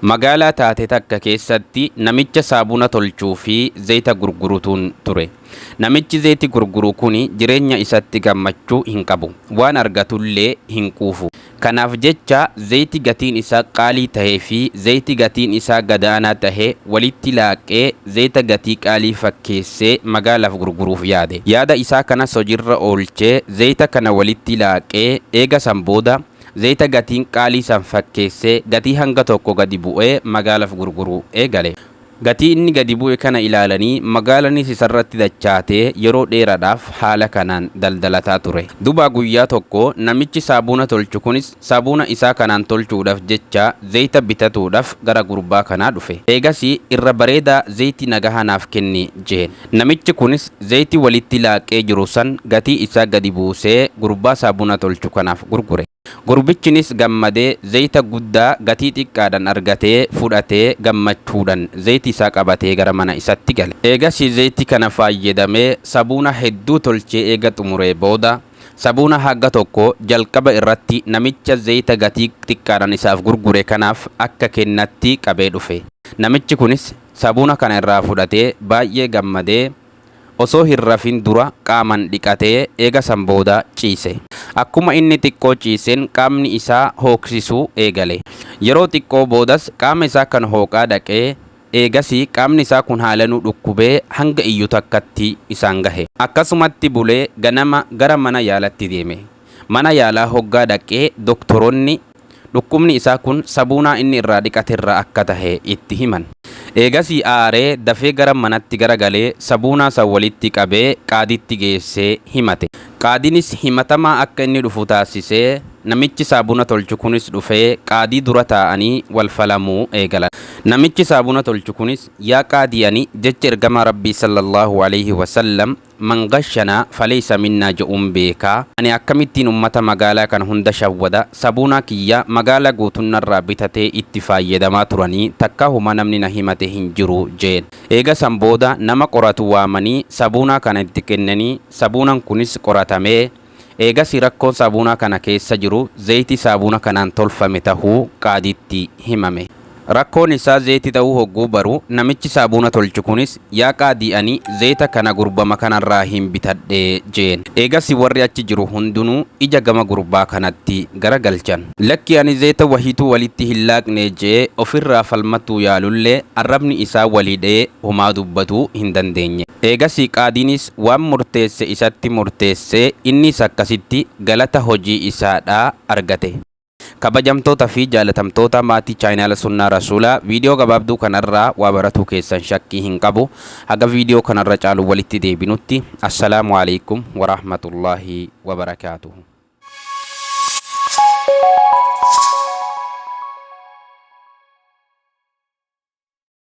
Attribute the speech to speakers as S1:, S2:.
S1: Magaalaa taate takka keessatti namicha saabuna tolchuu fi zeyta gurgurutuun ture. Namichi zeyti gurguru kuni jireenya isatti gammachuu hin qabu. Waan argatullee hin quufu. Kanaaf jecha zeyti gatiin isaa qaalii tahee fi zeyti gatiin isaa gadaanaa tahe walitti laaqee zeyta gatii qaalii fakkeessee magaalaaf gurguruuf yaade. Yaada isaa kanas hojirra oolchee zeyta kana walitti laaqee eega san booda Zayita gatiin qaalii san fakkeessee gatii hanga tokko gadi bu'ee magaalaf gurguruu eegale. Gatii inni gadi bu'e kana ilaalanii magaalanis isarratti dachaatee yeroo dheeradhaaf haala kanaan daldalataa ture. Dubaa guyyaa tokko namichi saabuuna tolchu kunis saabuuna isaa kanaan tolchuudhaf jecha zayita bitatuudhaf gara gurbaa kanaa dhufe. Eegasii irra bareedaa zayti nagaha naaf kenni jeen. Namichi kunis zayitii walitti laaqee jiru san gatii isaa gadi buusee gurbaa saabuna tolchu kanaaf gurgure. Gurbichinis gammadee zayita guddaa gatii xiqqaadhan argatee fudhatee gammachuudhan zayiti isaa qabatee gara mana isatti gale. Eegasii zayitii kana faayyadamee sabuuna hedduu tolchee eega xumuree booda sabuuna haga tokko jalqaba irratti namicha zayita gatii xiqqaadhan isaaf gurgure kanaaf akka kennatti qabee dhufe. Namichi kunis. Sabuuna kana irraa fudhatee baay'ee gammadee osoo hin rafin dura qaaman dhiqatee eega san booda ciise. Akkuma inni xiqqoo ciiseen qaamni isaa hooqsisuu eegale. Yeroo xiqqoo boodas qaama isaa kan hooqaa dhaqee eegasii qaamni isaa kun haalanuu dhukkubee hanga iyyu takkatti isaan gahe. Akkasumatti bulee ganama gara mana yaalatti deeme. Mana yaalaa hoggaa dhaqee doktoroonni. Dhukkubni isaa kun sabuunaa inni irraa dhiqate irraa akka tahe itti himan. Eegasii aaree dafee gara manatti garagalee sabuunaa san walitti qabee qaadiitti geessee himate. Qaadiinis himatamaa akka inni dhufu taassisee namichi saabuna tolchu kunis dhufee qaadii dura taa'anii wal falamuu eegalan. Namichi saabuna tolchu kunis, Yaa qaadii ani jecha ergamaa Rabbii sallallaahu aleyhi wasallam Man ghashana falaysa minna je'uun beeka. Ani akkamittiin ummata magaalaa kana hunda shawwada? Sabuunaa kiyya magaalaa guutuun narraa bitatee itti faayyadamaa turanii takkaa huma namni na himate hin jiru je'een. Eega san booda nama qoratu waamanii sabuunaa kana itti kennanii sabuunan kunis qoratamee Eegasii rakkoon saabuunaa kana keessa jiru zeeytii saabuuna kanaan tolfame tahuu qaadiitti himame. Rakkoon isaa zeeyti tahuu hogguu baru namichi saabuuna tolchu kunis yaa qaadii ani zeeyta kana gurbama kanarraahiin bitadhe jeen. Eegasii warri achi jiru hundunuu ija gama gurbaa kanatti gara galchan. Lakki ani zeeyta wahiituu walitti hin laaqne je'ee ofirraa falmatuu yaalullee arrabni isaa walhidhee homaa dubbatuu hin dandeenye. Eegasii qaadiinis Waan murteesse isatti murteesse, innis akkasitti galata hojii isaa dha argate. Kabajamtoota fi jaalatamtoota maatii Channel Sunnaa Rasuula, video gabaabduu kana irraa waa baratuu keessan shakkii hin qabu. Haga video kana irra caaluun walitti deebinutti, Assalaamu Aleykum Warahmatullaahi Wabarakaatuhu.